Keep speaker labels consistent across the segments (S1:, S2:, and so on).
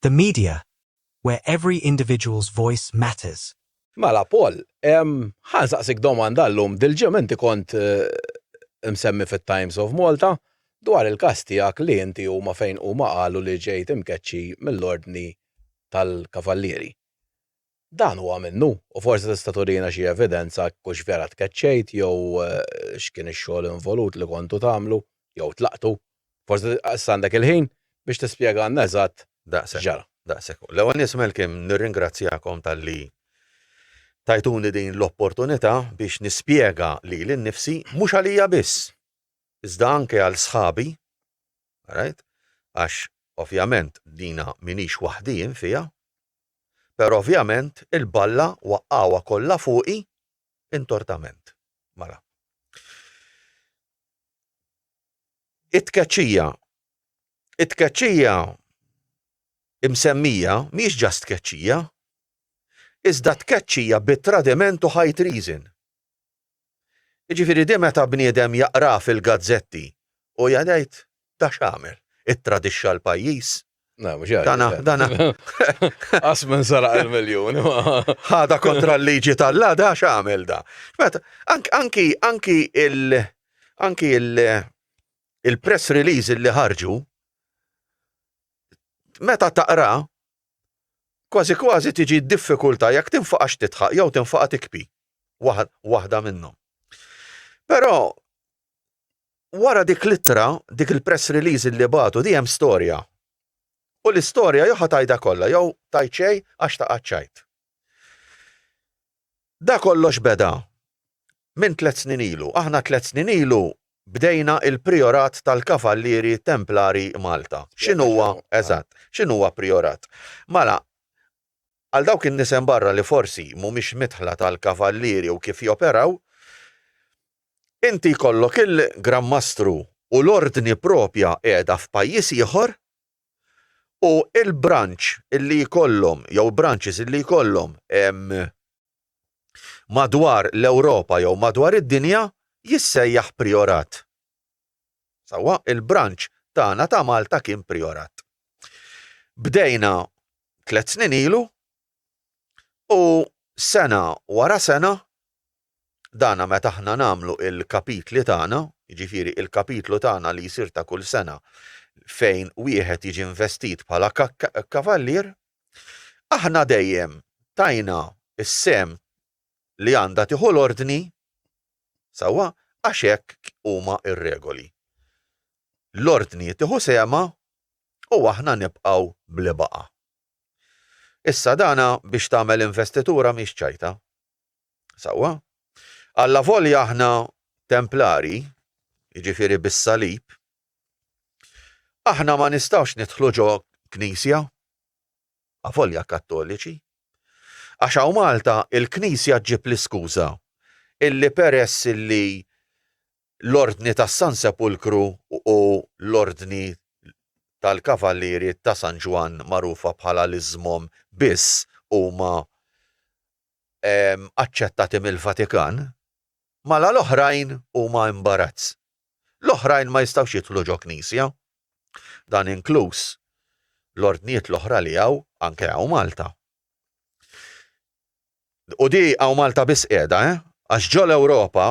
S1: The media, where every individual's voice matters. Mela Paul,
S2: ħa nsaqsik domanda llum, dil-ġimgħa inti kont imsemmi fit-Times of Malta dwar il-każ tiegħek li inti huma fejn huma qalu li ġejt imkeċċi mill-Ordni tal-Kavallieri. Dan huwa minnu, u forsi tista' turina xi evidenza jekk hux vera tkeċċejt jew x'kien ix-xogħol involut li kontu tagħmlu jew tlaqtu. Forsi issa għandek il-ħin biex tispjegalna eżatt x'ġara. Daqshekk. L-ewwel
S3: nett Malcolm nirringrazzjakom talli tajtuni din l-opportunità biex nispjega lili nnifsi, mhux għalija biss, iżda anke għal sħabi, għarajt, għax ovvjament dina m'iniex waħdi jien fiha, Però ovvjament il-balla waqqgħuha kollha fuqi intortament. Mela. It-tkeċċija It-tkeċċija imsemmija mhijiex ġast tkeċċija, iżda tkeċċija bi tradiment u high treason. Jiġifieri di meta bniedem jaqrah fil-gazzetti u jgħid da x'għamel, ittradixxa l-pajjiż. Na, mhux hekk. Dana, dana.
S2: Qas minn saraq il-miljun. Ħada
S3: kontra l-liġi tal-la da x'għamel da. Meta, anki, anki il- anki il-press release li ħarġu, meta taqra, Kważi kważi tiġi diffikultà jekk tinfaqax tidħaq jew tinfaqa' tikpi. Waħda minnhom. Però wara dik l-ittra, dik il-press release li bagħtu di hemm storja. U l-istorja jew ħa tgħidha kollha jew tgħid xejn għax ta' qaċċajt. Da kollox beda minn tliet snin ilu. Aħna tliet snin ilu bdejna l-Prijorat tal-Kavallieri Templari Malta. X'inhuwa, eżatt, x'inhuwa Prijorat? Mela, għal dawk in-nies hemm barra li forsi mhumiex midħla tal-Kavallieri u kif joperaw, inti jkollok il-Gran Mastru u l-Ordni proprja qiegħda f'pajjiż ieħor, u l-branch li jkollhom jew branches li jkollhom madwar l-Ewropa jew madwar id-dinja jissejjaħ prijorat. Sewwa, il-branch tagħna ta' Malta kien prijorat. Bdejna tliet snin ilu u sena wara sena Dan meta aħna nagħmlu l-kapitli tagħna, jiġifieri l-kapitlu tagħna li jsir ta' kull sena fejn wieħed jiġi investit bħala Kavallier, aħna dejjem tajna s-sehem li għandha tieħu l-Ordni, sewwa, għax hekk huma r-regoli. L-Ordni tieħu sehemha u aħna nibqgħu bli baqa'. Issa dan biex tagħmel investitura mhix ċajta. Sewwa? Allavolja aħna Templari, jiġifieri bis-salib, aħna ma nistgħux nidħlu ġo Knisja, avolja Kattoliċi, għax hawn Malta il-Knisja ġġib l-iskuża illi peress illi l-Ordni tas-San Sepulkru u l-Ordni tal-Kavallieri ta' San Ġwann magħrufa bħala l-iżmom biss huma aċċettati mill-Vatikan, mala l-oħrajn huma imbarazz. L-oħrajn ma jistgħux jidħlu ġo knisja. Dan inkluż l-ordnijiet l-oħra li hawn anke hawn Malta. U di hawn Malta biss qiegħda, eh? Għax ġol Ewropa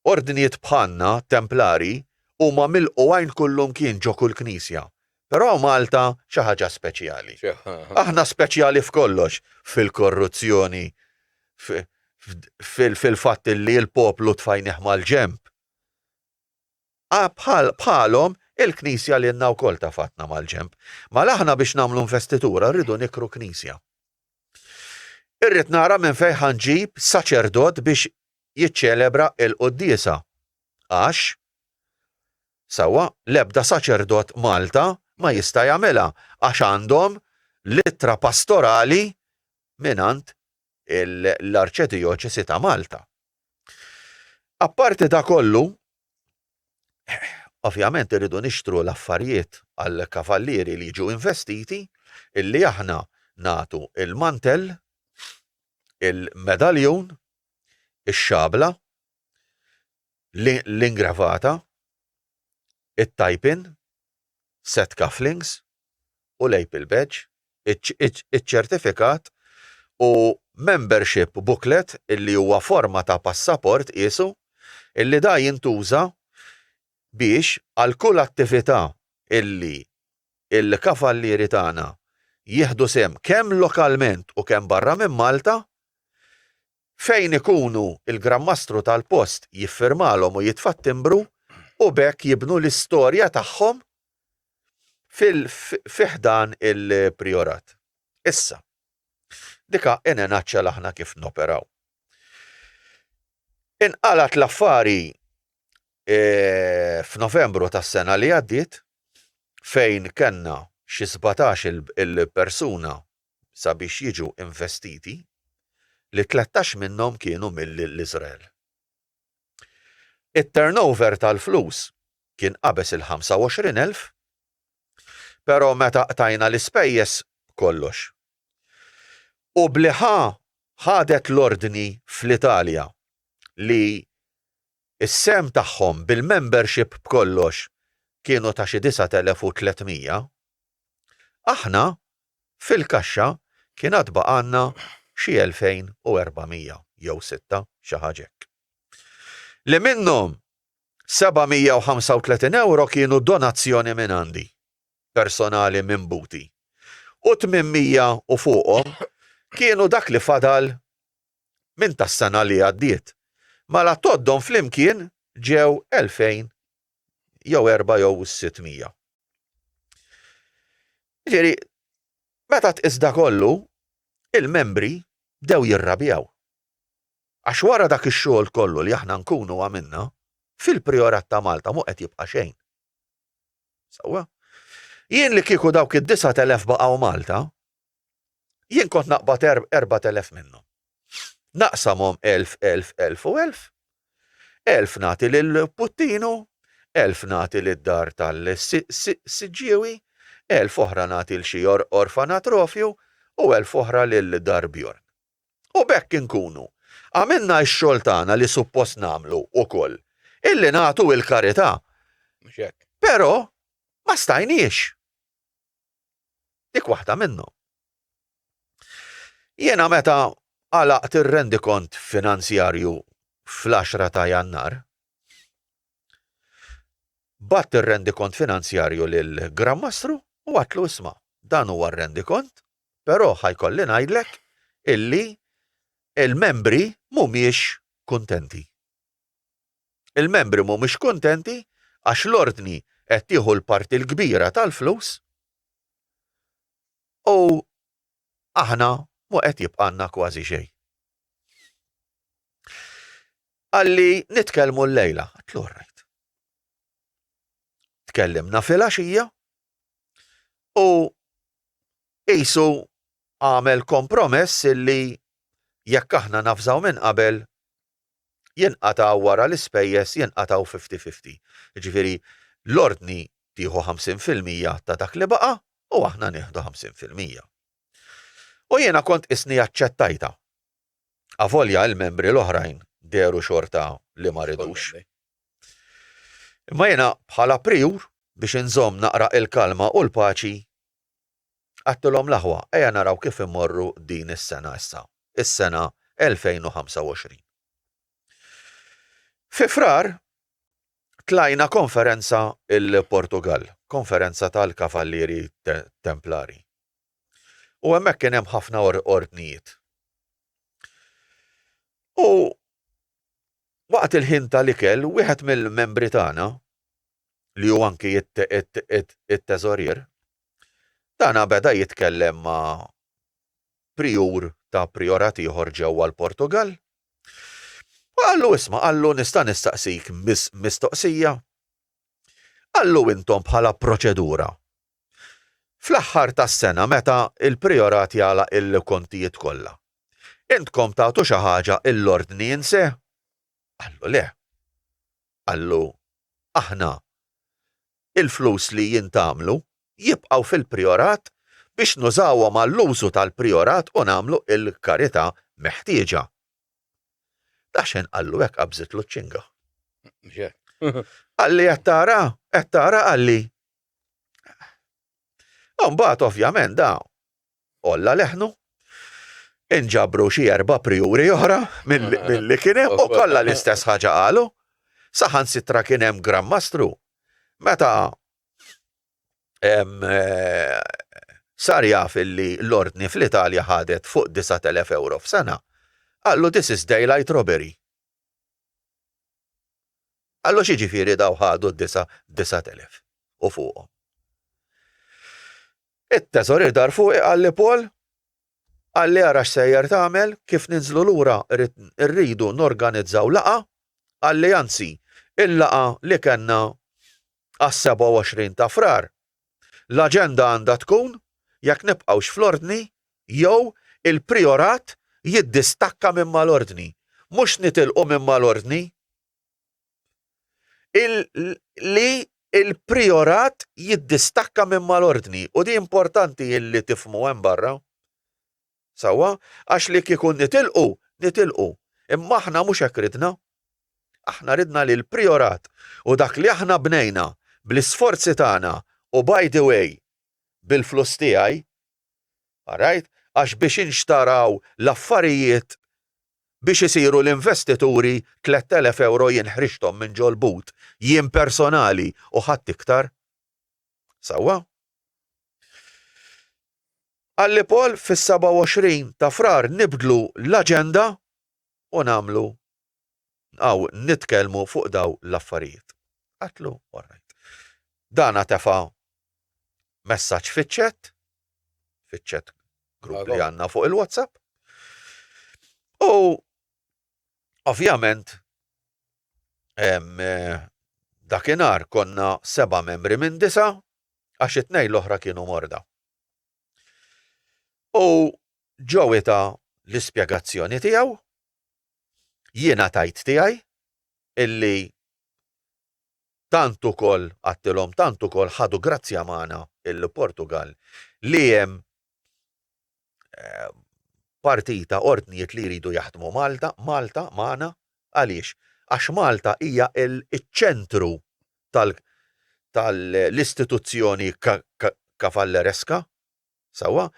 S3: Ordnijiet bħalna, Templari, huma milqu għajn kullumkien ġo kull knisja, però Malta xi ħaġa speċjali. Aħna speċjali f'kollox, fil-korruzzjoni, fil-fatt li l-poplu tfajnieh mal-ġenb. Bħalhom, il-Knisja lilna wkoll tafatna mal-ġenb. Mela aħna biex nagħmlu investitura rridu nikru knisja. Irrid nara minn fejn ħa nġib saċerdot biex jiċċelebra l-quddiesa għax, sewwa, l-ebda saċerdot Malta ma jista' jagħmilha għax għandhom l-ittra pastorali mingħand l-Arċedijoċesi ta' Malta. Apparti da kollu, ovvjament irridu nixtru l-affarijiet għall-kavallieri li jiġu investiti illi aħna nagħtu il-mantell, il-medaljun ix-xabla, l-ingravata, it-tajpin, set cufflinks u lapel badge, iċ-ċertifikat u membership booklet illi huwa forma ta' passaport qiesu illi da jintuża biex għal kull attività illi il-kavallieri tagħna jieħdu sehem kemm lokalment u kemm barra minn Malta, fejn ikunu il-Gran Mastru tal-post jiffirmalhom u jitfa' t-timbru u b'hekk jibnu l-istorja tagħhom fi ħdan il-Prijorat. Issa, dik hi in a nutshell aħna kif noperaw. Inqalgħet l-affari f'Novembru tas-sena li għaddiet fejn kellna xi sbatax il-persuna sabiex jiġu investiti li tlettax minnhom kienu mill-Iżrael. It-turnover tal-flus kien qabeż il-ħamsa u għoxrin elf pero meta qtajna l-ispejjeż kollox. U bli ħa ħadet l-ordni fl-Italja li Is-sehem tagħhom bil-membership b'kollox kienu ta' xi 9,300. Aħna, fil-kaxxa kien għad baqgħalna xi 2,400 jew sitta, xi ħaġa hekk. Li minnhom 735 ewro kienu donazzjoni mingħandi, personali minn Buti, u 800 u fuqhom kienu dak li fadal minn tas-sena li għaddiet. Mala tgħoddhom flimkien ġew 2000 jew erba' jew sitt mija. Ġifieri, meta tqis da kollu, il-membri bdew jirrabjaw. Għax wara dak ix-xogħol kollu li aħna nkunu għamilna, fil-Prijorat ta' Malta mhu qed jibqa' xejn. Sewwa? Jien li kieku dawk id-disat elef baqgħu Malta, Jien kont naqbad erbat elef minnhom. Naqsamhom elf, elf, elf u elf. Elf nagħti lil Puttinu, elf nagħti lid-dar tal-Siġġiewi, elf oħra nagħti l xi orfanatrofju u elf oħra lil dar Bjorn. U b'hekk inkunu għamilna x-xogħol tagħna li suppost nagħmlu wkoll, illi nagħtu il-karità. Però ma stajniex. Dik waħda minnhom. Jiena meta għalaqt ir-rendikont finanzjarju fl-10 ta' Jannar, batt ir-rendikont finanzjarju lil Grammastru u għatlu isma' dan huwa r-rendikont, però ħajkolli ngħidlek illi il-membri mhumiex kuntenti. Il-membri mhumiex kuntenti għax l-Ordni qed tieħu l-parti l-kbira tal-flus u aħna mhu qed jibqgħalna kważi xejn. Qalli nitkellmu llejla, għatlu orrajt. Tkellimna filgħaxija u qisu għamel kompromess illi jekk aħna nafżaw minn qabel jinqata' wara l-ispejjeż jinqatgħu fifty fifty. Jiġifieri l-Ordni tieħu ħamsin fil-mija ta' dak li baqa' u aħna nieħdu ħamsin fil-mija. U jiena kont qisni aċċettajtha. Avolja l-membri l-oħrajn dehru xorta li ma ridux. Imma jiena bħala prijur, biex inżomm naqra il-kalma u l-paċi, Għadtilhom l-aħwa, ejja naraw kif immorru din is-sena issa, is-sena 2025. Fi Frar tlajna konferenza il-Portugall, konferenza tal-Kavallieri Templari. U hemmhekk kien hemm ħafna ordnijiet. U waqt il-ħin tal-ikel, wieħed mill-membri tagħna li hu anki t-teżorier, dan beda jitkellem ma' prijur ta' prijorat ieħor ġewwa l-Portugall u qallu isma' qallu nista' nistaqsik mistoqsija? Qallu intom bħala proċedura fl-aħħar tas-sena meta l-prijorat jagħlaq il-kontijiet kollha intkom tagħtu xi ħaġa lill-Ordni in se? Qallu le. qallu, Aħna, il-flus li jintgħamlu, jibqgħu fil-Prijorat biex nużawhom għall-użu tal-Prijorat u nagħmlu l-karità meħtieġa. Daxxen qallu hekk qabżitlu ċ-ċinga. Mhux hekk? Qalli qed tara, qed tara qalli. Imbagħad ovvjament da għolla leħnu, inġabru xi erba' prijuri oħra milli kien hemm u kollha l-istess ħaġa qalu, saħansitra kien hemm Gran Mastru meta eh, sar jaf illi l-ordni fl-Italja ħadet fuq 9000 euro f'sena, qallu this is daylight robbery. Qallu xi ġifieri daw ħadu d-disa 9000 u fuqhom. It-teżorier dar fuqi qal li Paul, Qalli ara x'sejjer tagħmel, kif ninżlu lura rrid irridu norganizzaw laqgħa, qalli anzi, il-laqgħa li kellna għas-27 ta' Frar, l-aġenda għandha tkun jekk nibqgħux fl-Ordni jew il-Prijorat jiddistakka minn mal-Ordni, mhux nitilqu minn mal-Ordni. li l-prijorat jiddistakka minn mal-ordni u di importanti illi tifhmu hemm barra. Sewwa, għax li kieku nitilqu, nitilqu. Imma aħna mhux hekk ridna. Aħna ridna li l-prijorat u dak li aħna bnejna bl-isforzi tagħna u by the way bil-flus tiegħi, all right, għax biex inxtaraw l-affarijiet biex isiru l-investituri tlett elef ewro jien ħriġthom minn ġol-but, jien personali u ħadd iktar. Sewwa? Gallipol fis-27 ta' Frar nibdlu l-aġenda u nagħmlu nqgħu nitkellmu fuq dawn l-affarijiet. Qatlu, all right. Dana tefa' messaġġ fiċ-chat, fiċ-chat grupp li għandna fuq il-WhatsApp. U ovvjament eh, dakinhar konna seba' membri minn disa' għax it-tnejn l-oħra kienu morda. U ġew ta' l-ispjegazzjoni tiegħu jiena tajt tiegħi illi Tant ukoll, għadtilhom, tant ukoll ħadu grazzja magħna il-Portugall li hemm partita ordnijiet li jridu jaħdmu Malta, Malta magħna, għaliex? Għax Malta hija ċ-ċentru tal-istituzzjoni Cavalleresca, Sewwa,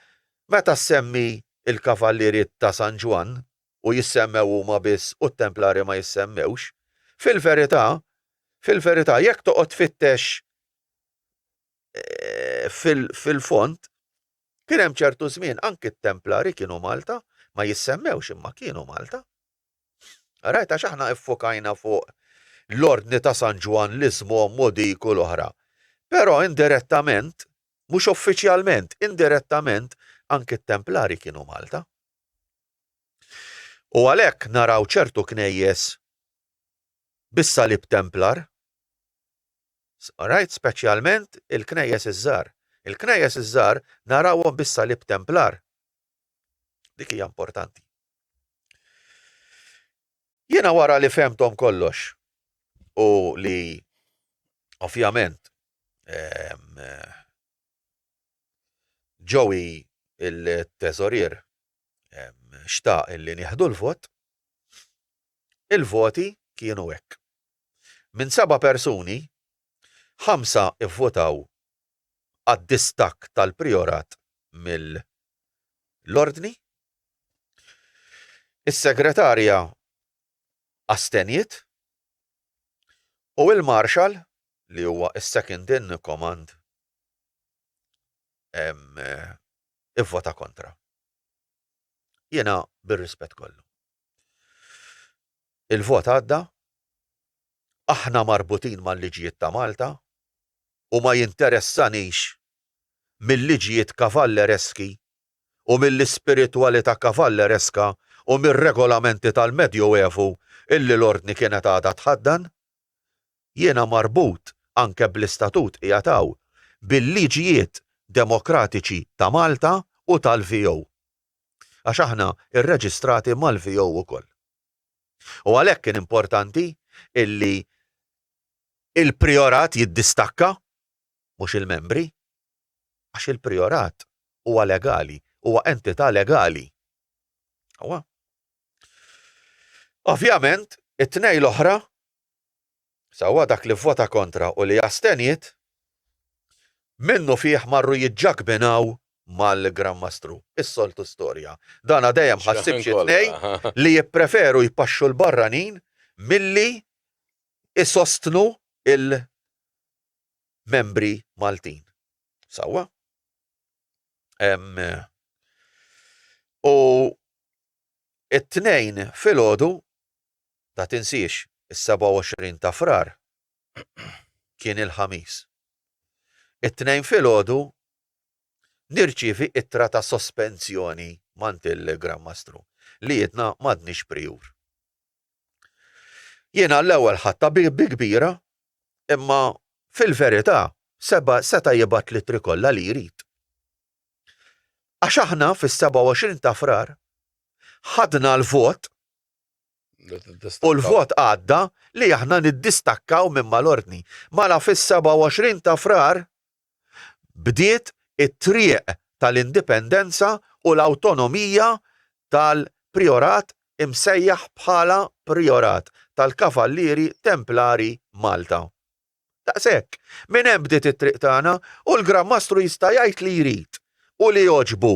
S3: meta ssemmi l-Kavallieri ta' San Ġwann u jissemmew huma biss u t-Templari ma jissemmewx, fil-verità, fil-verità, jekk toqgħod tfittex fil-fond, kien hemm ċertu żmien anki t-Templari kienu Malta, ma jissemmewx imma kienu Malta. Rajt għax aħna ffokajna fuq l-Ordni ta' San Ġwann, l-Iżmomm u dik u l-oħra. Però indirettament, Mhux uffiċjalment, indirettament, anki t-Templari kienu Malta. U għalhekk naraw ċertu knejjes bis-salib Templar, alright, speċjalment il-knejjes iż-żgħar. Il-knejjes iż-żgħar narawhom bis-salib Templar. Dik hija importanti. Jiena wara li fehmthom kollox u li ovvjament ehm, Joey il-teżorier ehm, xtaq illi nieħdu l-vot, il-voti kienu hekk. Minn seba' persuni, ħamsa ivvotaw għad-distakk tal-prijorat mill-Ordni. Is-Segretarja astenjiet u l-Marshal, li huwa s-Second in Command, ivvota kontra. Jiena bir-rispett kollu. Il-vot għadda aħna marbutin mal-liġijiet ta' Malta u ma jinteressanix mil-liġijiet kavallereski u mill-ispiritwalità kavallereska u mir-regolamenti tal-Medjoevu illi l-Ordni kienet għadha tħaddan. Jiena marbut, anke bl-istatut qiegħed hawn, bil-liġijiet demokratiċi ta' Malta u tal-VO. Għax aħna rreġistrati mal-VO ukoll. U għalhekk kien importanti illi il-Prijorat jiddistakka, mhux il-membri, għax il-Prijorat huwa legali, huwa entità legali. Ovvjament, it-tnejn l-oħra Sewwa dak li vvota kontra u li asteniet, minnufih marru jiġġakbinaw mal-Gran Mastru. Is-soltu storja. Dana dejjem ħassib xi tnejn li jippreferu jpaxxu l-barranin milli jsostnu il membri Maltin. Sewwa? U it-Tnejn filgħodu Ma tinsiex, is-27 ta' Frar kien il-Ħamis. It-Tnejn filgħodu nirċievi ittra ta' sospensjoni m'għand il-Gran Mastru li għidna m'għadniex Prijur. Jiena l-ewwel ħadtha bi kbira imma fil-verità Seba seta' jibgħat l-ittri kollha li jrid. Għax aħna fis-27 ta' Frar ħadna l-vot U l-vot għadda li aħna niddistakkaw minn mal-ordni. Mala fis-27 ta' Frar bdiet it-triq tal-indipendenza u l-awtonomija tal-Prijorat imsejjaħ bħala Prijorat tal-Kavallieri Templari Malta. Daqshekk. Minn hemm bdiet it-triq tagħna u l-Gran Mastru jista' jgħid li jrid u li jogħġbu.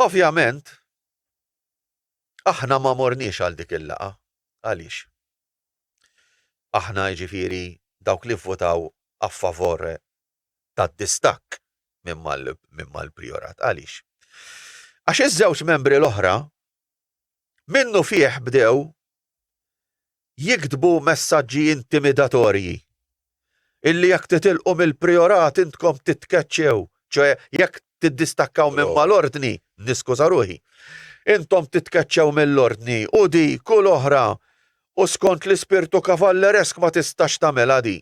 S3: Ovvjament, aħna ma morniex għal dik il-laqgħa. Għaliex? Aħna jiġifieri dawk li vvotaw a favore tad-distakk minn mal-prijorat. Għaliex? Għax iż-żewġ membri l-oħra minnufih bdew jiktbu messaġġi intimidatorji illi jekk titilqu mill-prijorat intkom titkeċċew, ċoe jekk tiddistakkaw minn mal-ordni, niskuża ruħi, intom titkeċċew mill-ordni u dik u l-oħra u skont l-ispirtu kavalleresk ma tistax tagħmilha di.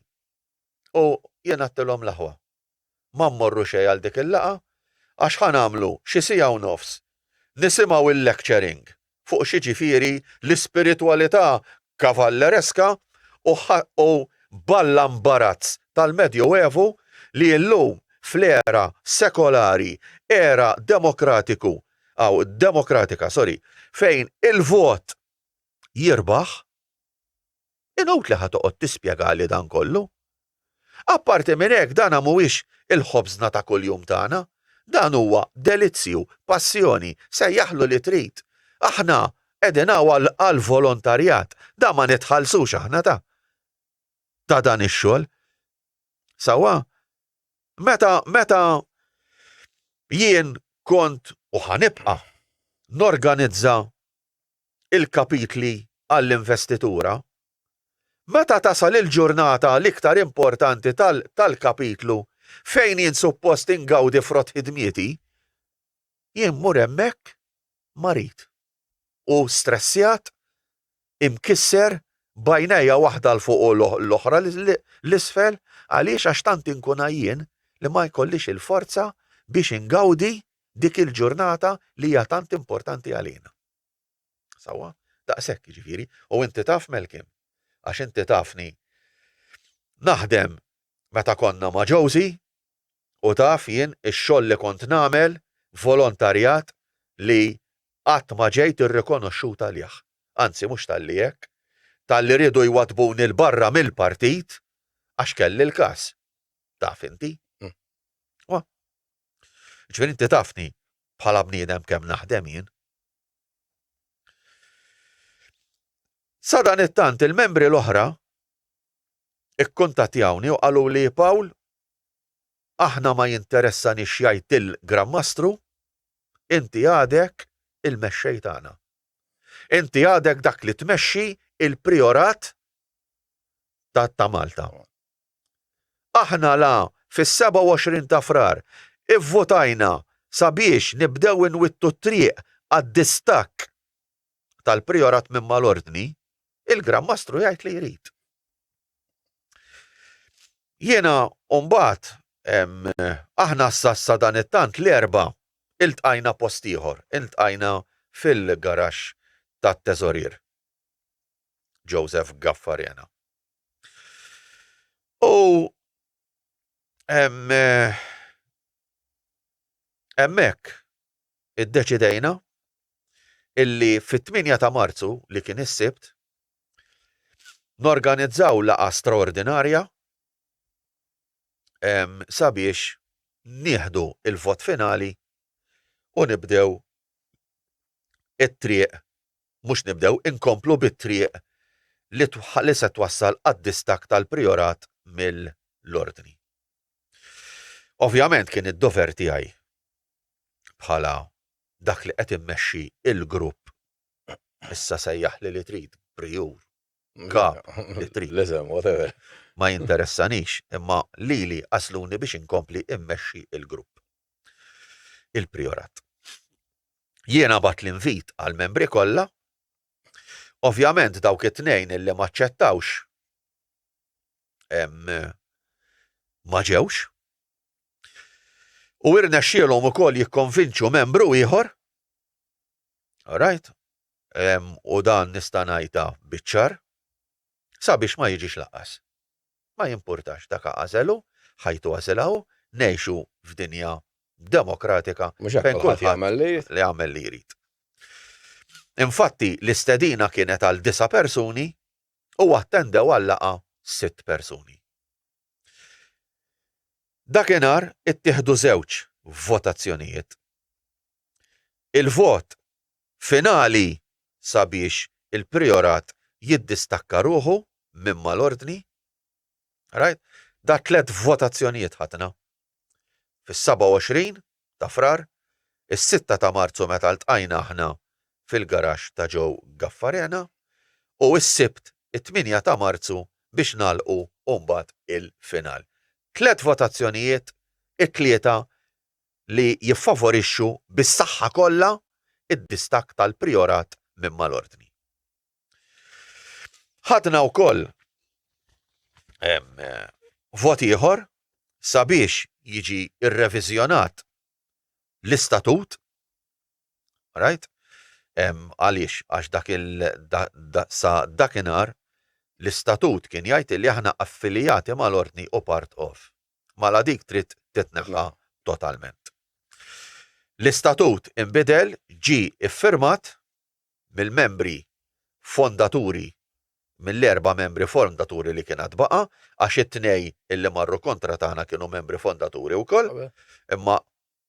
S3: U jien għedtilhom l-aħwa. Ma mmorru xejn għal dik il-laqgħa għax ħa nagħmlu xi siegħa u nofs nisimgħu l-lecturing fuq x'jiġifieri l-ispiritwalità kavallereska u b'alla mbarazz tal-Medjoevu li llum fl-era sekolari, era demokratiku, aw demokratika, sorry, fejn il-vot jirbaħ, Inutli ħa toqgħod tispjegali dan kollu. Apparti minn hekk dan mhuwiex il-ħobżna ta' kuljum tagħna. Dan huwa delizzju, passjoni, sejjaħlu li trid. Aħna qegħdin hawn għall-volontarjat, dan ma nitħallsux aħna ta' ta' dan ix-xogħol. Sewwa? Meta meta jien kont u ħa nibqa' norganizza il-kapitli għall-investitura. Meta tasal il-ġurnata l-iktar importanti tal-kapitlu fejn jien suppost ingawdi frott ħidmieti, jien mmur hemmhekk marid u stressjat, imkisser, b'għajnejja waħda 'l fuq u l-oħra 'l isfel għaliex għax tant inkun għajjien li ma jkollix il-forza biex ingawdi dik il-ġurnata li hija tant importanti għalina. Sawa? Daqshekk jiġifieri, u inti taf Melkim, għax inti tafni naħdem meta konna ma' Josie u taf jien ix-xogħol li kont nagħmel volontarjat li qatt ma ġejt irrikonoxxut għalih. Anzi mhux talli hekk, talli riedu jwaddbuni 'l barra mill-partit għax kelli l-każ. Taf inti? Ġifieri inti tafni bħala bniedem kemm naħdem jien. Sadanittant il-membri l-oħra ikkuntattjawni u qalu li Pawl aħna ma jinteressanix x'jgħid il-Gran Mastru, inti għadek il-mexxej tagħna. Inti għadek dak li tmexxi il-priorat ta' Malta. Aħna la fis-27 ta' Frar ivvotajna sabiex nibdew inwittu t-triq għad-distakk tal-Prijorat minn mal-Ordni, il-Gran Mastru jgħid li jrid. Jiena mbagħad aħna sa sadan it-tant l-Erbgħa iltqajna post ieħor, iltqajna fil-garaxx tat-Teżorier Joseph Gaffarena. U hemmhekk iddeċidejna illi fit-8 ta' Marzu li kien is-Sibt norganizzaw laqgħa straordinarja sabiex nieħdu l-vot finali u nibdew it-triq mhux nibdew inkomplu bit-triq li li se twassal għad-distakk tal-Prijorat mill-Ordni. Ovvjament kien id-dover tiegħi bħala dak li qed immexxi il-grupp issa sejjaħli li trid Prijur, Kap, li trid. L-isem, whatever.
S2: Ma jinteressanix,
S3: imma lili għasluni biex inkompli immexxi il-grupp. Il-Prijorat. jiena bagħat l-invit għall-membri kollha. Ovvjament dawk it-tnejn illi ma ċċettawx ma ġewx. U irnexxielhom ukoll jikkonvinċu membru ieħor. Alright? U dan nista' ngħidha biċ-ċar sabiex ma jiġix laqas. ma jimpurtax dak għażel hu, ħajtu għażilha hu, ngħixu f'dinja demokratika fejn kulħadd jagħmel li jrid. Infatti, l-istedina kienet għal disa' persuni u attendew għal-laqgħa sitt persuni. Dakinhar ittieħdu żewġ votazzjonijiet. Il-vot Finali sabiex il-Prijorat jiddistakka ruħu minn mal-Ordni. Rajt? Dar tliet votazzjonijiet ħadna. Fis-27 ta' Frar, is-sitta ta' Marzu meta ltqajna aħna fil-garaxx ta' Joe Gaffarena, u s-Sibt it-tmienja ta' Marzu biex nagħlqu u mbagħad il-final. Tliet votazzjonijiet, it-tlieta li jiffavorixxu bis-saħħa kollha d-distakk tal-Prijorat minn mal-Ordni. Ħadna wkoll vot ieħor sabiex jiġi rreviżjonat l-istatut right? Għaliex, għax dak sa dakinhar l-istatut kien jgħid li aħna affilijati mal-ordni u part of. mala dik trid titneħħa totalment. L-istatut inbidel ġie iffirmat mill-membri fondaturi mill-erba' membri fondaturi li kien għad baqa' għax it-tnej illi marru kontra tagħna kienu membri fondaturi wkoll, imma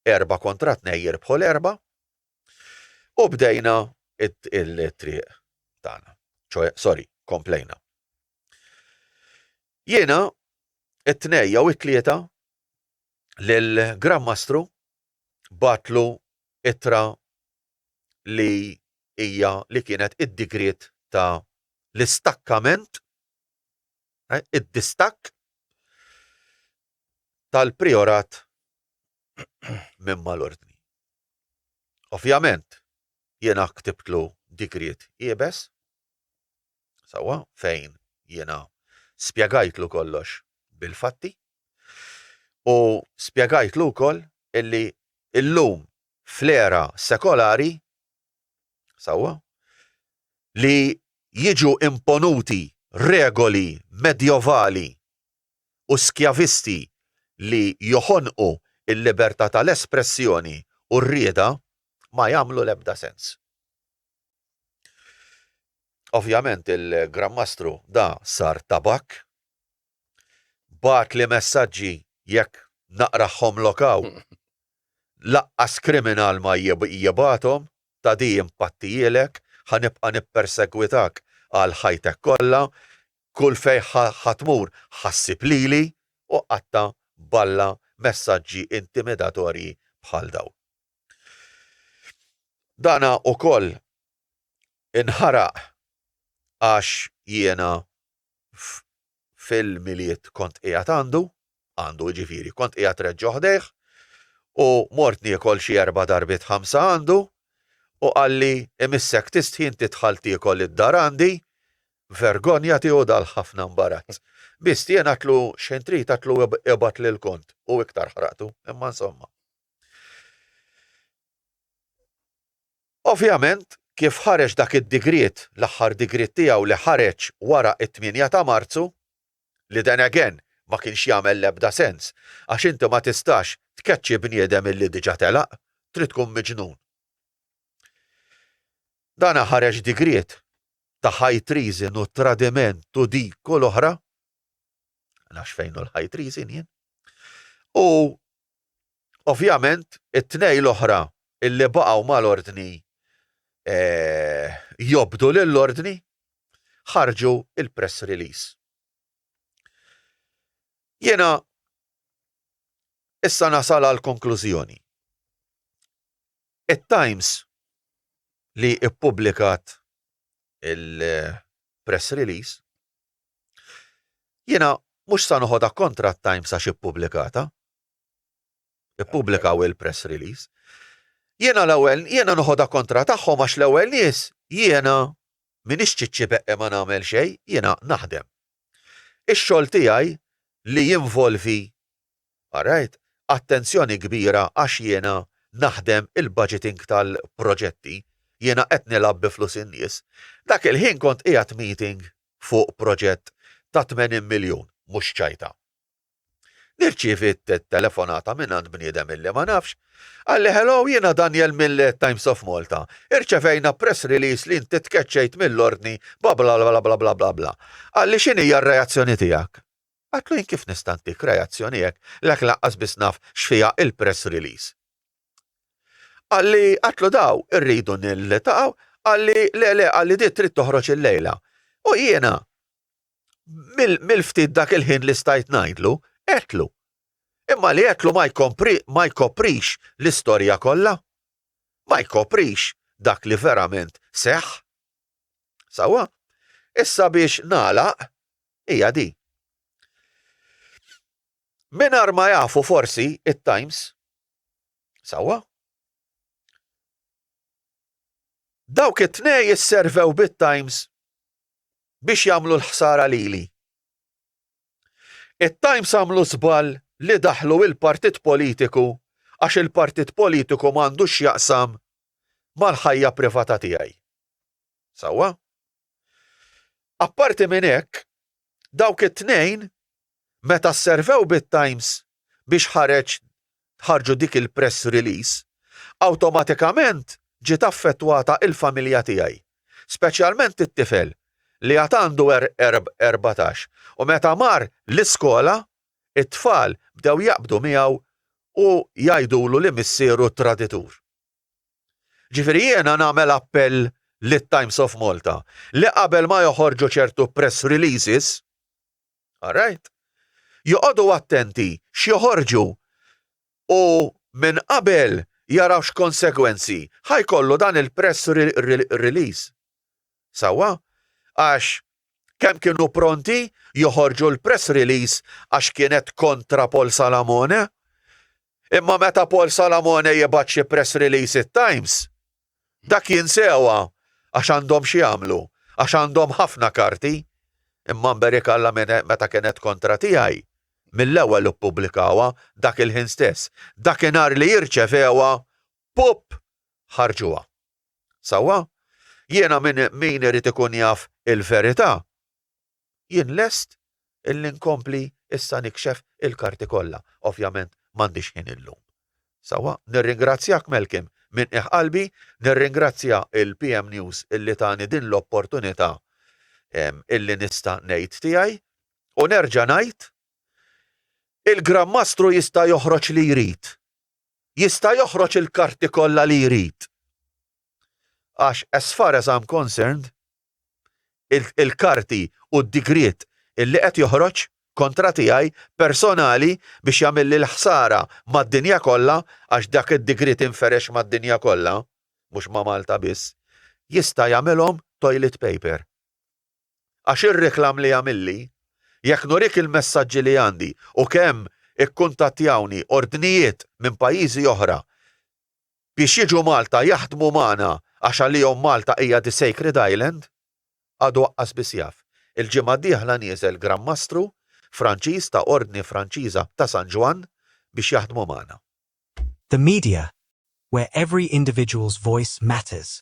S3: erba' kontra tnej jirbħu l-erba' u bdejna il-triq tagħna. Sorry, komplejna. Jiena it-tnej jew it-tlieta lil Gran Mastru batlu ittra li hija li kienet id-digriet ta' l-istakkament, eh, id-distakk tal-priorat minn mal-ordni. Ovvjament, jiena ktibtlu digriet iebes, sewwa, fejn jiena spjegajtlu kollox bil-fatti u spjegajtlu wkoll illi llum fl-era sekolari, sewwa, li jiġu imponuti regoli medjovali u skjavisti li joħonqu l-libertà tal-espressjoni u r-rieda ma jagħmlu l-ebda sens. Ovvjament il-Gran Mastru da sar tabakk. Bagħatli messaġġi jekk naqrahhomlok hawn. Laqqas kriminal ma jibgħathom, ta' di impattijielek, ħa nibqa' nippersegwitak għal ħajtek kollha, kull fejn ħa tmur ħa ssib lili, u qatta' balla messaġġi intimidatorji bħal dawn. Dana ukoll inħaraq għax jiena fil-Milied kont qiegħed għandu, għandu jiġifieri, kont qiegħed reġġo ħdejh u mort niekol xi erba' darbiet ħamsa għandu u qalli imissek tistħin tidħal tiekol id-dar għandi, vergonja tiegħu dal ħafna mbarazz. Bistien għatlu xejn trid għatlu ibgħat lil Kont u iktar ħraqtu, imma insomma. Ovvjament, kif ħareġ dak id-digriet, l-aħħar digriet tiegħu li ħareġ wara t-tmienja ta' Marzu, li then again ma kienx jagħmel l-ebda sens għax inti ma tistax tkeċċi bniedem illi diġa telaq, trid tkun miġnun. Dan ħareġ digriet ta' high treason u tradiment u dik u l-oħra, nafx fejn hu l-high treason jien, u Ovvjament, it-tnejn l-oħra li baqgħu mal-Ordni jobdu lill-Ordni ħarġu l-press release. Jiena issa nasal għall-konklużjoni. It-Times li ppubblikat il-press release Jiena mhux sa noħodha kontra t-Times għax ippubblikatha. Ippubblikaw il-press release. Jiena l-ewwel jiena noħodha kontra tagħhom għax l-ewwel nies jiena minix ċiċċi beqqe ma nagħmel xejn, jiena naħdem. Ix-xogħol tiegħi li jinvolvi Rajt attenzjoni kbira għax jiena naħdem il-budgeting tal-proġetti, jiena qed nilgħab bi flus in-nies. Dak il-ħin kont qiegħed meeting fuq proġett ta' 80 miljun, mhux ċajta. Nirċievi telefonata mingħand bniedem illi ma nafx, qalli hello jiena Daniel mill-Times of Malta, irċevejna press release li inti tkeċċejt mill-ordni bla bla bla bla bla bla. Qalli x'inhija r-reazzjoni tiegħek? Għidtlu jien kif nista' ntik reazzjoni hekk, l-hekk lanqas biss naf x'fiha il-press release. Qalli għidtlu daw irridu niltaqgħu, qalli le le qalli di trid toħroġ illejla. U jiena mill-ftit dak il-ħin li stajt ngħidlu, għedtlu. Imma li għedtlu ma jkoprix l-istorja kollha. Ma jkoprix dak li verament seħħ. Sewwa? Issa biex nagħlaq, hija di. Mingħajr ma jafu forsi it-Times, sewwa, dawk it-tnej isservew bit-Times biex jagħmlu l-ħsara lili. It-Times għamlu żball li daħlu il-partit politiku għax il-partit politiku m'għandux x'jaqsam mal-ħajja privata tiegħi. Sewwa? Apparti minn hekk, dawk it-tnejn meta sservew bit-Times biex ħareġ ħarġu dik il-press release, awtomatikament ġiet affettwata il-familja tiegħi, speċjalment it-tifel li għad għandu erbatax u meta mar l-iskola t-tfal bdew jaqbdu miegħu u jgħidulu li missieru traditur. Ġifieri jiena nagħmel appell lit-Times of Malta li qabel ma joħorġu ċertu press releases, all right, joqogħdu attenti x'joħorġu u minn qabel jaraw x'konsegwenzi ħa jkollu dan il-press release. sewwa, għax kemm kienu pronti joħorġu l-press release għax kienet kontra Paul Salamone, imma meta Paul Salamone jibgħat xi press release it-Times, dak jinsewa għax għandhom x'jagħmlu, għax għandhom ħafna karti, imma mberikalla meta kienet kontra tiegħi, mill-ewwel ippubblikawha dak il-ħin stess, dakinhar li rċevewha, pupp! ħarġuha. Sewwa, jiena minn min irid ikun jaf il-verità, jien lest illi nkompli issa nikxef il-karti kollha. Ovvjament m'għandix ħin illum. Sewwa, nirringrazzjak Malcolm minn qiegħ qalbi, nirringrazzja il-PM News illi tani din l-opportunità illi nista' ngħid tiegħi u nerġa' ngħid, il-Gran Mastru jista' joħroġ li jrid. jista' joħroġ il-karti kollha li jrid għax as far as I'm concerned il-karti u d-digriet li qed joħroġ kontra tiegħi personali biex jagħmilli l-ħsara mad-dinja kollha għax dak id-digriet inferex mad-dinja kollha mhux ma' Malta biss jista' jagħmilhom toilet paper. għax ir-reklam li jagħmilli, jekk nurik il-messaġġi li għandi u kemm ikkuntattjawni ordnijiet minn pajjiżi oħra biex jiġu Malta jaħdmu magħna għax għalihom Malta hija the sacred island, għadu aqqas biss jaf. Il-ġimgħa d-dieħla nieżel Gran Mastru Franċiż ta' Ordni Franċiża ta' San Ġwann biex jaħdmu magħna.
S1: The media, where every individual's voice matters,